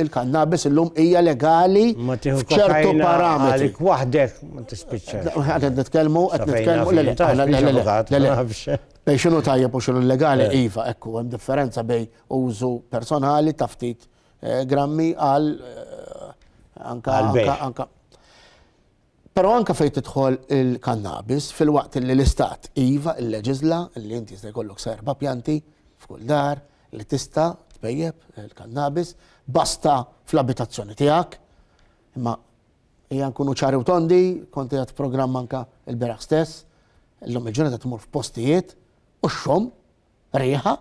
il-kannabis illum hija legali f'ċertu parametri. Għalik waħdek ma tispiċċax. Qed nitkellmu, qed nitkellmu le le. Bej xinu tajjeb u xinu legali, iva, ekku, hemm differenza bej użu personali ta' ftit Grammi għal anka anka Però anka fejn tidħol il-kannabis fil-waqt li l-istat iva il-leġizla li inti se jkollok serba pjanti f'kull dar li tista' tbejjeb il-kannabis basta fl-abitazzjoni tiegħek. Imma hija nkunu ċari u tondi, konti għat programm anka il-beraħ stess, l-lum il-ġurnata tmur f'postijiet u xxom riħa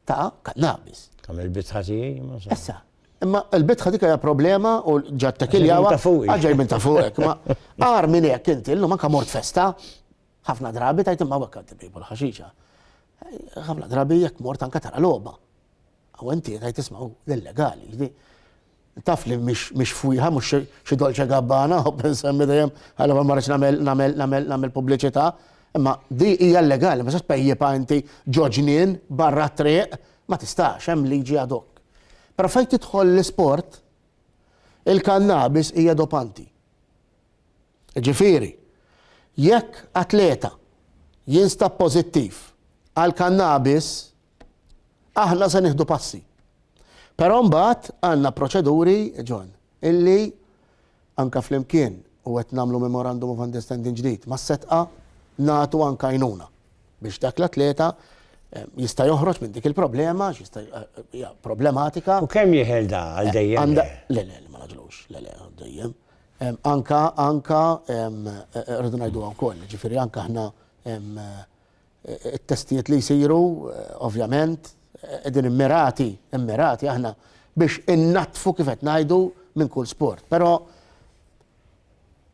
ta' kannabis. Kam il-bitħa tiegħi ma sa. Issa, imma l-bitħa dik hija problema u ġat tekiljawa. Ta' fuq. Ġej minn ta' fuq. Ma għar minn hekk inti llum anke mort festa ħafna drabi tajt imma hekk għad tibibu l-ħaxixa. Ħafna drabi jekk mort anke tara logħba. Aw inti tajt isma' hu illegali. Taf li mhix fwieħa, mhux xi Dolce Gabbana, u nsemmi dejjem għalhekk ma marridx nagħmel nagħmel nagħmel pubbliċità, imma di hija llegali, ma tistax tpejjipha inti ġo ġnien barra t-triq, ma tistax, hemm liġi ad hoc. Però fejn tidħol l-isport, il-kannabis hija dopanti. Ġifieri, jekk atleta jinstab pożittiv għall-kannabis, Aħna se nieħdu passi. Però mbagħad għandna proċeduri, John, illi anke flimkien u qed nagħmlu memorandum of understanding ġdid mas-setqa nagħtu anke għajnuna biex dak l-atleta eh, jista' joħroġ minn dik il-problema, jista' eh, problematika. U kemm jeħel da għal eh, dejjem? Le, le, ma naġlux, le, le, għal dejjem. Anka, anka, rridu ngħidu wkoll, ġifieri anka aħna It-testijiet li jsiru, ovvjament, qegħdin immirati, immirati aħna biex innaddfu kif qed ngħidu minn kull sport. Però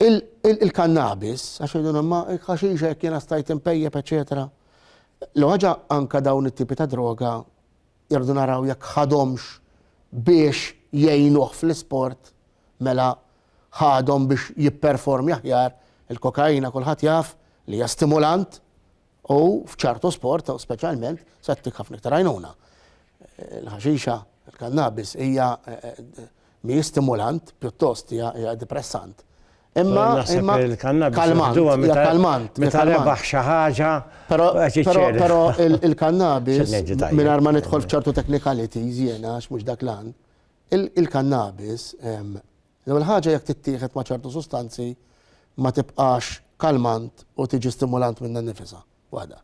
il-kannabis, għax jgħidu imma il-ħaxixa jekk jiena stajt impejjeb, eċetera. L-ħaġa anke dawn it-tipi ta' droga irdu naraw jekk ħadhomx biex jgħinuh fl-isport, mela ħadhom biex jipperformja aħjar, il-kokaina kulħadd jaf li hija stimulant u f'ċertu sport speċjalment se ttik ħafna iktar għajnuna. Il-ħaxixa, il-kannabis hija Mhijiex stimulant, pjuttost hija depressant. Imma imma kalmant, hija kalmant. Meta rebaħ xi ħaġa. Però però il-kannabis mingħajr ma nidħol f'ċertu technicalities jiena għax mhux dak l-għan. Il-kannabis l-ewwel ħaġa jekk tittieħed ma' ċertu sustanzi ma tibqax kalmant u tiġi stimulant minnha nnifisha waħda.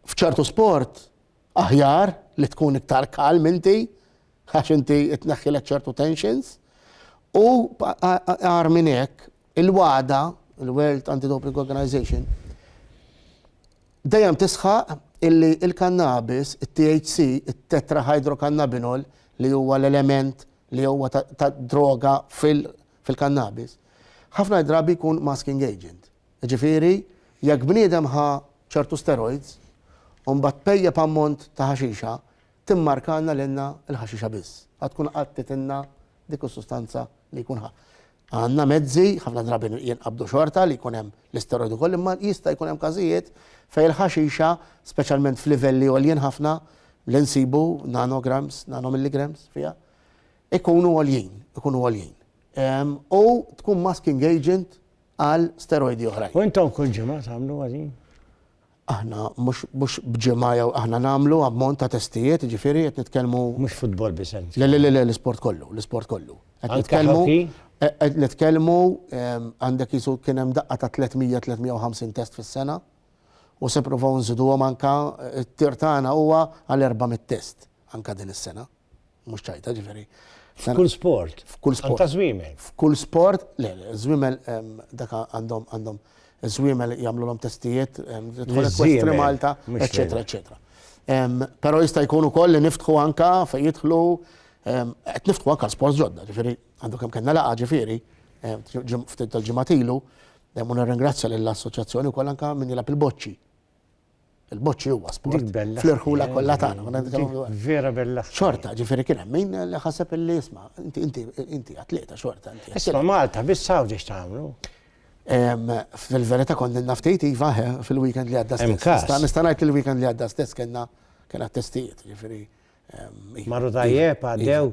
F'ċertu sport Aħjar li tkun iktar calm inti għax inti tneħħilek ċertu tensions. U agħar minn hekk, il-WADA, il-World Anti-Doping Organization, dejjem tisħaq illi il-kannabis, it-THC, it-tetrahydrocannabinol, li huwa l-element li huwa ta' droga fil-kannabis, ħafna drabi jkun masking agent. Jiġifieri, jekk bniedem ħa ċertu steroids u mbagħad pejjep ammont ta' ħaxixa, timmarkalna lilna l-ħaxixa biss. Ħa tkun qattitilna dik is-sustanza li jkun ħa. Għandna mezzi, ħafna drabi jinqabdu xorta li jkun hemm l-isteroid ukoll, imma jista' jkun hemm każijiet fejn il-ħaxixa, speċjalment f'livelli għoljin ħafna, li nsibu nanograms, nanomilligrams fiha, ikunu għoljin, ikunu għoljin. U tkun masking agent għal steroidi oħrajn. U intom kull ġimgħa tagħmluha din? Aħna mhux b'ġimgħa jew aħna nagħmlu ammont ta' testijiet, jiġifieri qed nitkellmu. Mhux futbol bisens. Le le le l-isport kollu, l-isport kollu. Qed nitkellmu. Qed nitkellmu għandek jisu kien hemm daqqa ta' 300-350 test fis-sena u se provaw nżiduhom anka t-tir tagħna huwa għal 400 test anka din is-sena. mhux ċajta ġifieri. F'kull sport. F'kull sport. Ta' żwiemel. F'kull sport, le, żwiemel dak għandhom għandhom żwiemel jagħmlulhom testijiet estrem Malta, eċetera, eċetera. Però jista' jkun ukoll li niftħu anka fejn jidħlu qed niftħu anka sport ġodda, ġifieri għandu kemm kellna laqa ġifieri ftit tal-ġimgħat ilu, u nirringrazzja lill-assoċjazzjoni wkoll anka min jilgħab il-boċċi Il-boċċi huwa sport. Fl-irħula kollha tagħna. Vera bella. Xorta, ġifieri kien hemm min li ħaseb illi isma' inti inti inti atleta xorta. Isma' Malta biss hawn ġiex tagħmlu. Fil-verità kont naf tgħid iva fil-weekend li għadda stess. Nista' ngħid li l-weekend li għadda stess kellna kien għat-testijiet, ġifieri Marru tajjeb, għaddew.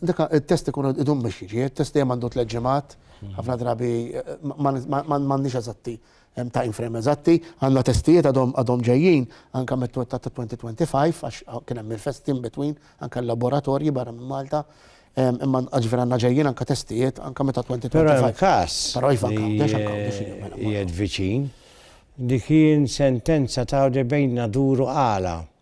Dika, il-test ikun idum biex jiġi, il-test dejjem għandu tliet ġimgħat, ħafna drabi m'għandniex eżatti time frame eżatti, għandna testijiet għadhom ġejjin anke mit-twet ta' 2025 għax kien hemm il-fest in between anke l-laboratorji barra minn Malta, imma ġifieri għandna ġejjin anke testijiet anke meta 2025. Però hemm każ. Però iva nkawdi għax hemm kawdi fihom. Mela, mela. Qiegħed viċin. Dik hi sentenza ta' bejnna duru għala.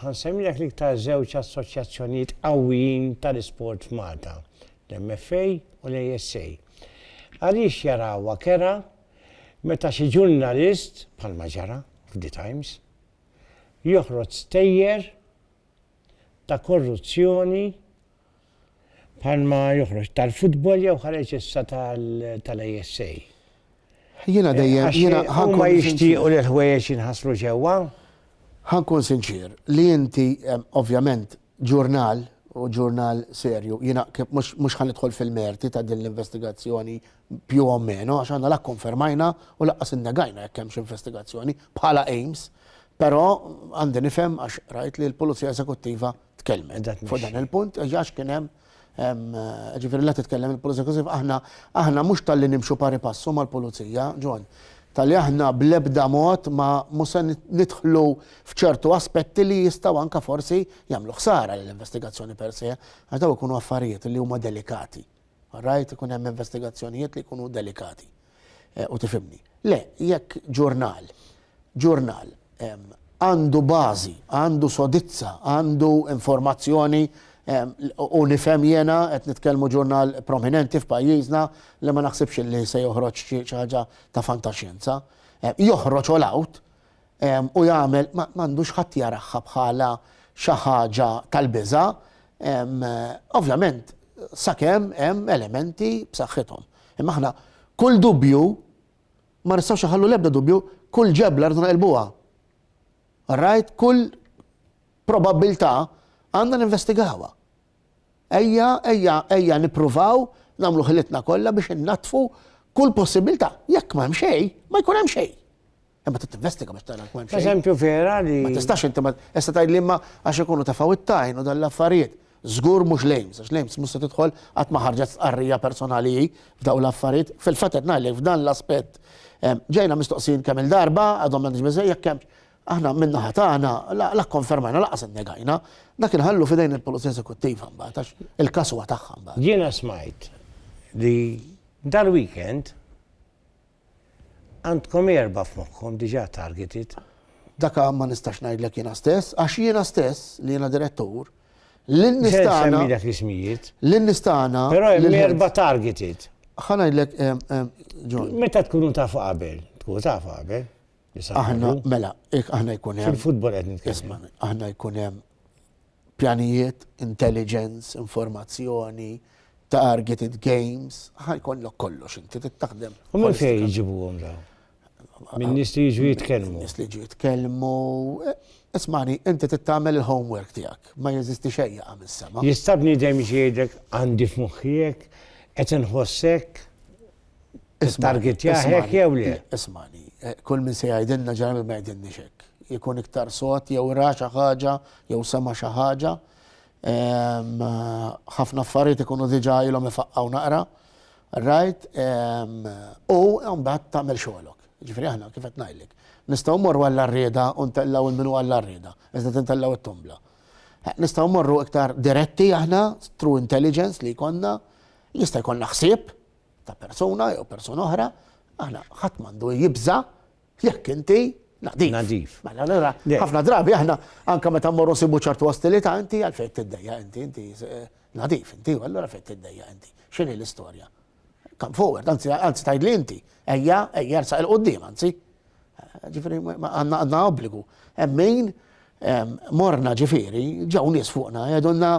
Ħa nsemmilek l-iktar żewġ assoċjazzjonijiet qawwijin tal-isport f'Malta, l-MFA u l-ASA. Għaliex jarawha kerha meta xi ġurnalist, bħalma ġara f'The Times, joħroġ stejjer ta' korruzzjoni Bħalma joħroġ tal-futbol jew ħareġ issa tal-ASA. Jiena dejjem jiena ħa nkun jixtiequ li l-ħwejjeġ jinħaslu ġewwa. Ħa nkun sinċier li inti ovvjament ġurnal u ġurnal serju jiena mhux ħa nidħol fil-merti ta' din l-investigazzjoni più o meno għax aħna la kkonfermajna u lanqas innegajna jekk hemmx investigazzjoni bħala AIMS però għandi nifhem għax rajt li l-Pulizija Eżekuttiva tkellmet fuq dan il-punt, għax kien hemm ġifieri la titkellem il-Pulizija Kosif, aħna aħna mhux tal-li nimxu pari passu mal-Pulizija, John, tal-li aħna bl-ebda mod ma mhux se nidħlu f'ċertu aspetti li jistgħu anka forsi jagħmlu ħsara l-investigazzjoni per se, għax daw ikunu affarijiet li huma delikati. Rajt ikun hemm investigazzjonijiet li jkunu delikati. Eh, u tifimni. Le, jekk ġurnal, ġurnal għandu bażi, għandu sodizza, għandu informazzjoni u nifhem jena qed nitkellmu ġurnal prominenti f'pajjiżna li ma naħsibx li se joħroġ xi ħaġa ta' fantaxjenza. Joħroġ all out u jagħmel ma għandux ħadd jaraha bħala xi ħaġa tal-biża', ovvjament sakemm hemm elementi b'saħħithom. Imma aħna kull dubju ma nistgħux inħallu l-ebda dubju, kull ġebla rridu neqilbuha. All right? Kull probabbiltà għandna ninvestigawha. Ejja, ejja, ejja nippruvaw nagħmlu ħilitna kollha biex innaddfu kull possibbiltà. Jekk ma hemm xejn, ma jkun hemm xejn. Imma trid tinvestiga biex tara l-kwan. Eżempju vera li. Ma tistax inti ma issa tajt li imma għax ikunu ta' faw it-tajn u dan l-affarijiet. Żgur mhux lejms, għax lejms mhux se tidħol qatt ma ħarġet stqarrija personali hi f'daw l-affarijiet. Fil-fatt qed ngħidlek f'dan l-aspett ġejna mistoqsin kemm il-darba għadhom m'għandix biżej jekk hemm aħna minna ħatana la konfermajna laqas innegajna, dak inħallu fidejn il-Pulizija Esekuttiva mbagħad għax il-każ huwa tagħha mbagħad. Jiena smajt li dal-weekend Għandkom erba' f'moħħkom diġà targeted. Daka ma nistax ngħidlek jiena stess, għax jiena stess, li jiena direttur, lin-nies Ser tagħna, nsemmilek l-ismijiet. lin-nies tagħna, Però hemm lil-health- erba' targeted. Ħa ngħidlek, em, em, John, Meta tkunu tafu qabel? Tkunu tafu qabel? li sa aħna, għadu. mela, ik- aħna jkun hemm, Fil-futbol qed nitkellem. isma', aħna jkun hemm pjanijiet, intelligence, informazzjoni, targeted games, ħa jkollok kollox inti trid taħdem. U minn fejn jġibuhom dawn? Minn nies li jiġu jitkellmu. Nies li jiġu jitkellmu. Eh, ismani, inti trid tagħmel il-homework tiegħek, ma jeżisti xejn jaqa' mis-sema. Jista' bniedem jgħidek għandi f'moħħijek qed inħossek Targetja hekk jew le? Ismani, eh, kull min se jgħidilna ġarmi ma jgħidilni xek. Jkun iktar sot jew ra xi ħaġa jew sema xi ħaġa. Ehm, ħafna affarijiet ikunu diġà ilhom ifaqqgħu naqra. Rajt, ehm, u mbagħad tagħmel xogħolok. Ġifieri aħna kif qed ngħidlek. Nistgħu mmorru għall-arrieda u ntellgħu il-minu għall-arrieda, iżda tintellgħu t-tumbla. Eh, nistgħu mmorru iktar diretti aħna, true intelligence li jkollna, jista' jkollna ħsieb, ta' persuna jew persuna oħra, aħna ħadd m'għandu jibża' jekk inti Nadif. Nadif. Mela, allora, ħafna drabi aħna anka meta mmorru nsibu ċertu ostilità inti għal fejn tiddejja inti inti eh, nadif inti u allura fejn tiddejja inti. X'inhi l-istorja? Come forward, anzi anzi tgħidli inti, ejja ejja sa il qudiem anzi. Eh, ġifieri għandna għandna obbligu. Hemm min morna ġifieri ġew nies fuqna jgħidulna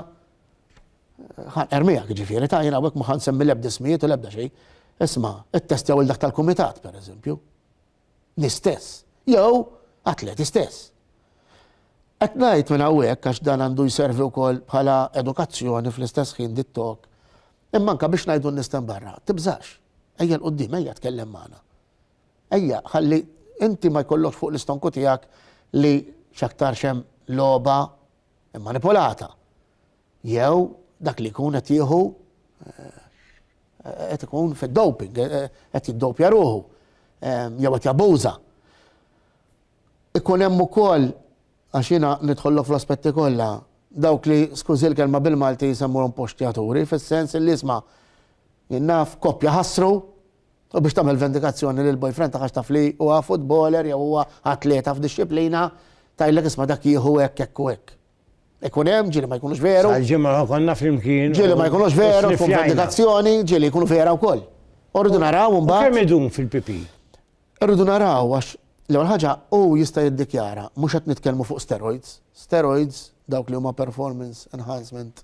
Ħan ermijak ġifieri, ta' jien hawnhekk ma ħan semmi l-ebda ismijiet u l-ebda xejn. Isma, ittestjaw il dak tal-kumitat, per eżempju. Nistess. Jew atleti stess. Qed ngħid minn hawnhekk għax dan għandu jservi wkoll bħala edukazzjoni fl-istess ħin dit-tok. Imma anke biex ngħidu n-nistan barra, tibżax. Ejja l-qudiem, ejja tkellem magħna. Ejja, ħalli inti ma jkollokx fuq l-istonku tiegħek li x'aktar xem logħba immanipulata jew dak li jkun qed jieħu eh, qed ikun fid-doping, eh, eh, qed jiddopja ruħu, jew qed jabbuża. Ikun hemm ukoll għax jiena nidħollu fl-aspetti kollha dawk li skużi l-kelma bil-Malti jisemmuhom postjaturi fis-sens li isma' jinnaf koppja ħassru U biex tagħmel vendikazzjoni lill-boyfriend tagħha għax taf li huwa futboler jew huwa atleta f'dixxiplina, tgħidlek isma' dak jieħu hekk, hekk u hekk. Ikun hemm, ġieli ma jkunux veru. Sal-ġimgħa konna flimkien. Ġieli ma jkunux veru, tkun vendikazzjoni, ġieli jkunu vera wkoll. U rridu naraw imbagħad. Kemm idum fil-pipi? Rridu naraw għax l-ewwel ħaġa hu jista' jiddikjara mhux qed nitkellmu fuq steroids. Steroids dawk li huma performance enhancement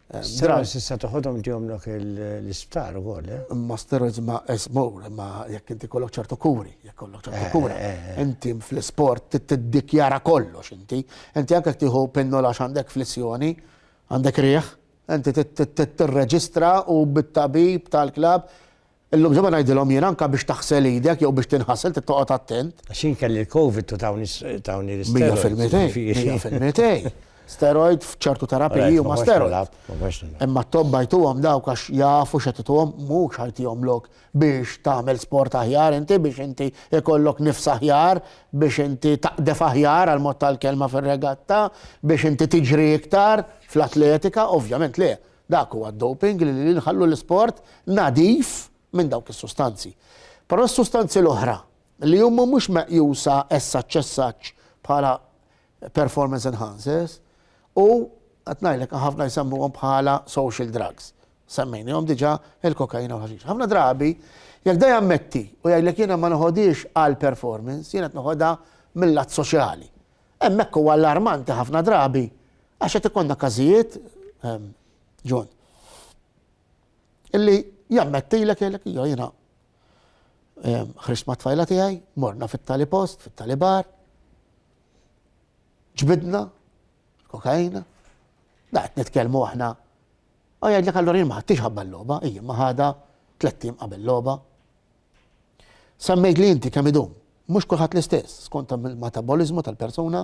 Steroids tista' toħodhom ġewmlok l-isptar ukoll, eh? Imma steroids ma esmur, imma jekk inti kollok ċertu kuri, jekk kollok ċertu eh, kura. Eh, eh. Inti fl-isport tiddikjara kollox inti. Inti anke tieħu pinnola għandek flessjoni, għandek rieħ, inti tirreġistra u bit-tabib tal-klab Illum se ma ngħidilhom jien anke biex taħsel idek jew biex tinħasel trid toqgħod attent. Għax jien kelli l-Covid u tawni tawni l-isteroids. Mija fil-mitej, mija fil-mitej. Steroid f'ċertu terapiji huma steroid. Imma t-tobba jtuhom dawk għax jafu x'qed ituhom mhux ħajtihom lok biex tagħmel sport aħjar inti biex inti ikollok nifs aħjar biex inti taqdef aħjar għal mod tal-kelma fir-regatta biex inti tiġri iktar fl-atletika ovvjament le Dak huwa d-doping li li nħallu l-isport nadif minn dawk is-sustanzi. Però s-sustanzi l-oħra li huma mhux meqjusa as such as such bħala performance enhancers u qed ngħidlek ħafna jsemmuhom bħala social drugs. Semmejnihom diġà il-kokaina u l-ħaxix. Ħafna drabi jekk da jammetti u jgħidlek jiena ma noħodhiex għal performance, jiena qed noħodha mill-lat soċjali. Hemmhekk huwa allarmanti ħafna drabi għax qed ikollna każijiet, ehm, John, illi jammettilek jgħidlek jew jiena ehm, ħriġt ma' tfajla tiegħi, morna fit-tali post, fit-tali bar, ġbidna, kokaina, da qed nitkellmu aħna. U jgħidlek allura jien ma ħadtix ħabba l-logħba, ija ma ħadha tlettim qabel logħba. Semmejtli inti kemm idum. Mhux kulħadd l-istess, skont il-mataboliżmu tal-persuna.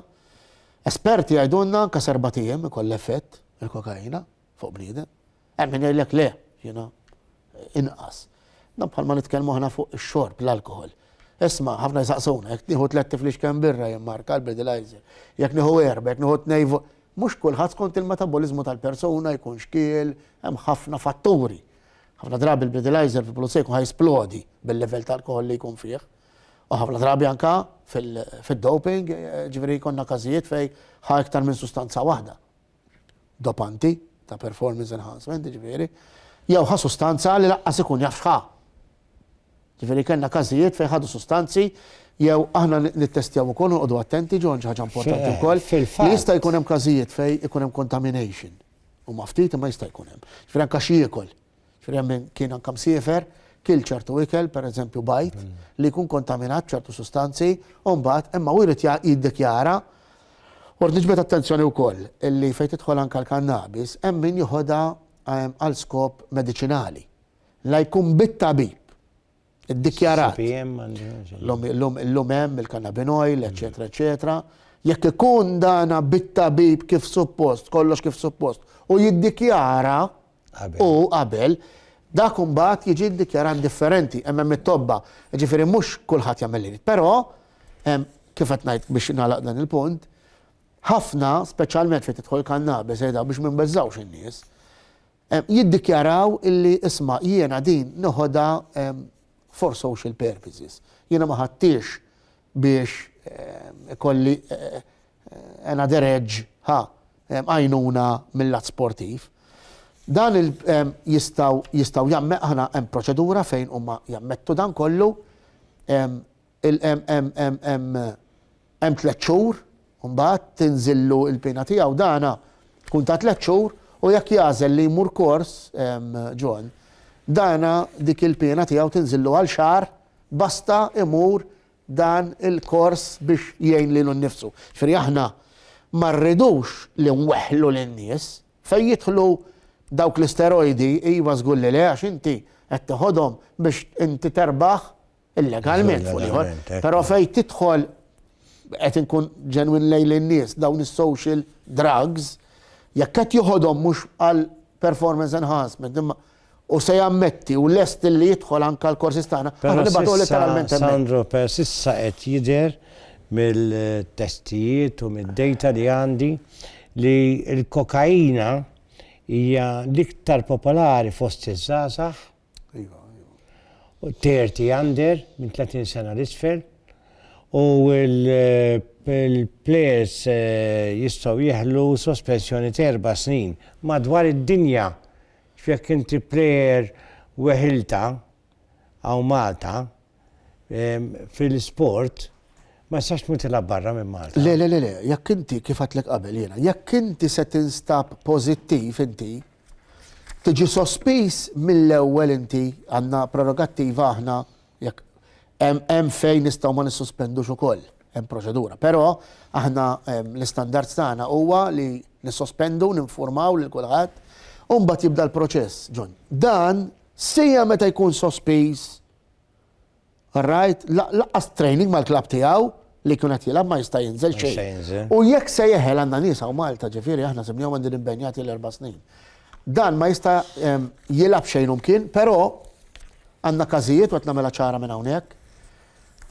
Esperti jgħidulna anke s'erbat ijiem ikollha effett il-kokaina fuq bniedem. Hemm min jgħidlek le, you know, inqas. Dan bħalma nitkellmu aħna fuq ix-xorb, l-alkoħol. Isma', ħafna jsaqsuna, jekk nieħu tliet tiflix kemm birra jien marka l-Budweiser, jekk nieħu erba', jekk nieħu tnejn Mhux kulħadd skont il-mataboliżmu tal-persuna jkun xkiel, hemm ħafna fatturi. Ħafna drabi l-Breathalyzer fil-Pulizija jkun ħajsplodi bil-livell ta' alkoħol li jkun fih. U ħafna drabi anka fil-doping, ġifieri jkollna każijiet fejn ħa iktar minn sustanza waħda. Dopanti ta' performance enhancement, ġifieri, jew ħa sustanza li laqqas ikun jaf x'ħa. Ġifieri kellna każijiet fejn ħadu sustanzi jew aħna nittestjaw ukoll noqogħdu attenti ġon ħaġa importanti wkoll. Jista' jkun hemm każijiet fejn ikun hemm contamination. Huma ftit imma jista' jkun hemm. Ġifieri anke xi jiekol. Ġifieri hemm min kien anke msiefer, kil ċertu ikel, pereżempju bajd, li jkun kontaminat b'ċertu sustanzi, u mbagħad imma hu jrid jiddikjara. U rrid niġbed attenzjoni wkoll li fejn tidħol anke l-kannabis hemm min joħodha għal skop mediċinali. La jkun bit-tabib iddikjarat. L-lum hemm il-cannabin oil, eċetera, eċetera. Jekk ikun dana bit-tabib kif suppost, kollox kif suppost, u jiddikjara u qabel, dak imbagħad jiġi ddikjarat differenti, hemm hemm it-tobba. Jiġifieri mhux kulħadd jagħmel li jrid. Però hemm kif qed ngħid biex nagħlaq dan il-punt, ħafna, speċjalment fejn tidħol kannabis, biex ma nbeżżgħux in-nies, Jiddikjaraw illi isma' jiena din noħodha for social purposes. Jiena ma ħadthiex biex ikolli another edge, ħa, għajnuna mil-lat sportiv. Dan il jistgħu jistgħu hemm proċedura fejn huma jammettu dan kollu. Hemm tliet xhur u mbagħad tinżillu l-piena tiegħu. Dana tkun ta' tliet xhur u jekk jagħżel li jmur kors, John, dana dik il-piena tiegħu tinżillu għal xahar basta imur dan il-kors biex jgħin lilu nnifsu. Ġifieri aħna ma rridux li nweħħlu lin-nies. Fejn jidħlu dawk l-isterojdi, iva żgur li le għax inti qed teħodhom biex inti terbaħ illegalment fuq ieħor, però fejn tidħol qed inkun ġenwin lejn lin-nies dawn is-social drugs, jekk qed joħodhom mhux għal performance enhancement, imma u se jammetti u lest li jidħol anka l-korsis tagħna, aħna nibgħatu letteralment hemmhekk. Sandro, per sissa qed jidher mill-testijiet u mid-data li għandi li l-kokaina hija l-iktar popolari fost iż-żgħażagħ Iva, iva. U 30 under minn 30 sena l-isfel u l-players eh, jistgħu jieħlu sospensjoni ta' erba' snin madwar id-dinja. X'jekk inti player weħilta għaw Malta eh, fil-sport ma jistax tmur tilgħab barra minn Malta. Le, le, le, le, jekk inti kif għatlek qabel jiena, jekk inti se tinstab pożittiv inti, Tiġi sospiż mill-ewwel inti, għandna prerogattiva aħna jekk hemm fejn nistgħu ma nissospendux ukoll, hemm proċedura. Però aħna l-istandards tagħna huwa li nissospendu, ninfurmaw lil kulħadd u mbagħad jibda l-proċess. John, Dan sija meta jkun sospiż Rajt, laqqas training mal-klab tiegħu li jkun qed jilgħab ma jista' jinżel xejn. U jekk se jeħel għandna nies hawn Malta, ġifieri aħna simnew għandin imbenjati l-erba' snin. Dan ma jista' ehm, jilgħab xejn umkien, però għandna każijiet u qed nagħmilha ċara minn hawnhekk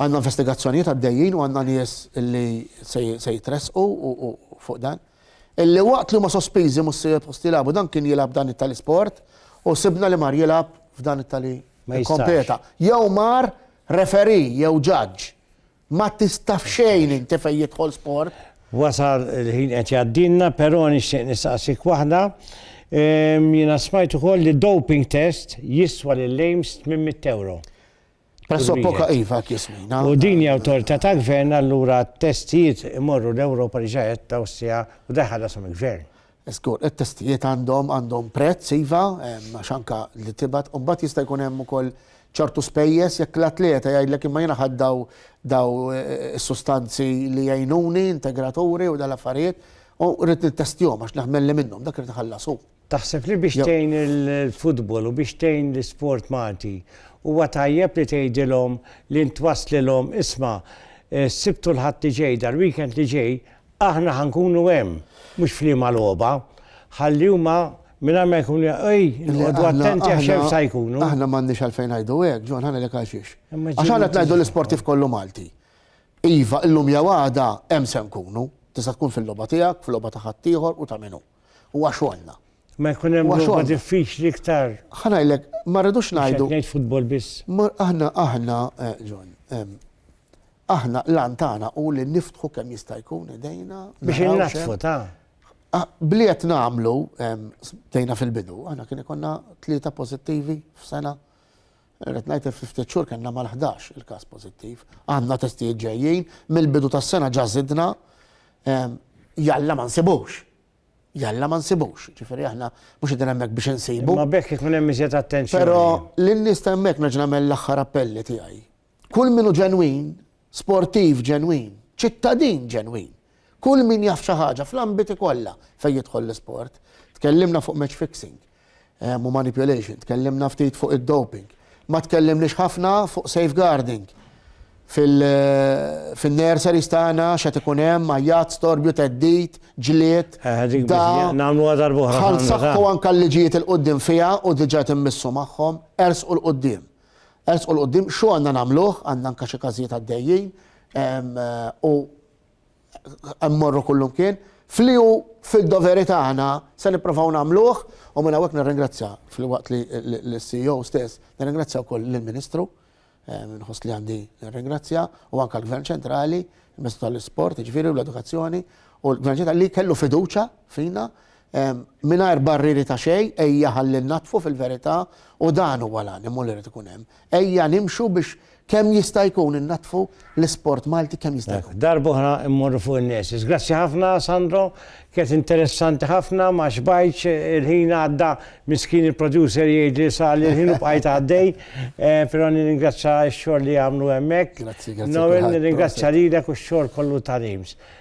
għanna investigazzjonijiet għaddejjin u għanna nies li se jitresqu u fuq dan. Illi waqt li huma sospiżi mhux se jitpost jilagħbu dan kien jilgħab dan it-tali sport u sibna li mar jilgħab f'dan it-tali kompeta. Jew mar referee jew judge. Ma tista' f'xejn inti fejn jidħol sport. Wasal il-ħin qed jgħaddilna però nixtieq nistaqsik waħda. Jiena smajt ukoll li doping test jiswa lil Ames 800 ewro. Pressopoka iva kismina. U din hija awtorità ta' gvern allura t-testijiet imorru l-Ewropa li ġajet tawsija u da jħallasom il-gvern. Żgur, it-testijiet għandhom għandhom prezz iva, għax anke li tibgħat u mbagħad jista' jkun hemm ukoll ċertu spejjeż jekk l-atleta jgħidlek imma jiena ħadt daw daw is-sustanzi li jgħinuni, integraturi u dal-affarijiet u rrid nittestjahom għax naħmelli minnhom, dak irid iħallas hu. Taħseb li biex tgħin il-futbol u biex tgħin l-isport Malti huwa tajjeb li tgħidilhom li int twasslilhom isma' s-Sibt u l-Ħadd li ġej, dal-weekend li ġej, aħna ħa nkunu hemm, mhux f'liema logħba, ħalli huma mingħajr ma jkunu jafu, ej, inqogħdu attenti għax hemm sa jkunu. Aħna m'għandniex għalfejn ngħidu hekk, John, ħanilek għal xiex. Għax aħna qed ngħidu l-isportiv kollu Malti. Iva, illum jew għada hemm se nkunu, tista' tkun fil-logħba tiegħek, fil-logħba ta' ħaddieħor u ta' minnu. Huwa xogħolna. Ma jkun hemm logħba diffiċli iktar. Ħa ngħidlek, ma rridux ngħidu. Ngħid futbol biss. Aħna aħna John, aħna l-għan tagħna hu li niftħu kemm jista' jkun idejna. Biex innaħfu ta'. Bliet nagħmlu tejna fil-bidu, aħna kien ikonna tlieta pożittivi f'sena. Irrid ngħid li ftit xhur kellna mal-11 il-każ pożittiv. Għandna testijiet ġejjin, mill-bidu tas-sena ġa żidna jalla ma nsibux. Jalla ma nsibux. Ġifieri aħna mhux qegħdin hemmhekk biex insibu. Ma bekk ikun hemm iżjed attenzjoni. Però lin-nies ta' hemmhekk nerġa' nagħmel l-aħħar appelli tiegħi. Kull min hu ġenwin Sportiv ġenwin, ċittadin ġenwin. Kull min jaf xi ħaġa fl-ambiti kollha fejn jidħol l-isport. Tkellimna fuq match fixing u manipulation, tkellimna ftit fuq id-doping. Ma tkellimniex ħafna fuq safeguarding. Fin-nurseries tagħna x'qed ikun hemm, għajjat, storbju, theddid, ġlied, dagħa. Nagħmluha darb'oħra. Ħa nsaħħu anke l-liġijiet 'il quddiem fiha u diġà qed immissu magħhom, ersqu 'l quddiem. Ersqu 'l quddiem, x'hu għandna nagħmluh, għandna anke xi każijiet għaddejjin, u hemm morru kullimkien, f'li hu fid-doveri tagħna se nipprovaw nagħmluh, u minn hawnhekk nirringrazzja filwaqt li l-CEO stess, nirringrazzja wkoll lill-Ministru, inħoss li għandi nirringrazzja, u anke l-Gvern Ċentrali, l-Ministru tal-Isport jiġifieri u l-Edukazzjoni, u l-Gvern Ċentrali li kellu fiduċja fina Mingħajr barrieri ta' xejn, ejja ħalli nnaddfu fil-verità u dan huwa l-animu li jrid ikun hemm. Ejja nimxu biex kemm jista' jkun innaddfu l-isport Malti kemm jista' jkun. Darba oħra mmorru fuq in-nurses. Grazzi ħafna Sandro, kienet interessanti ħafna, ma xbajtx, il-ħin għadda, miskin il-producer jgħidli sar li l-ħin u bqajt għaddej, però nirringrazzja x-xogħol li jagħmlu hemmhekk. Grazzi, grazzi għal kulħadd. Noel, nirringrazzja lilek u x-xogħol kollu ta' Reims.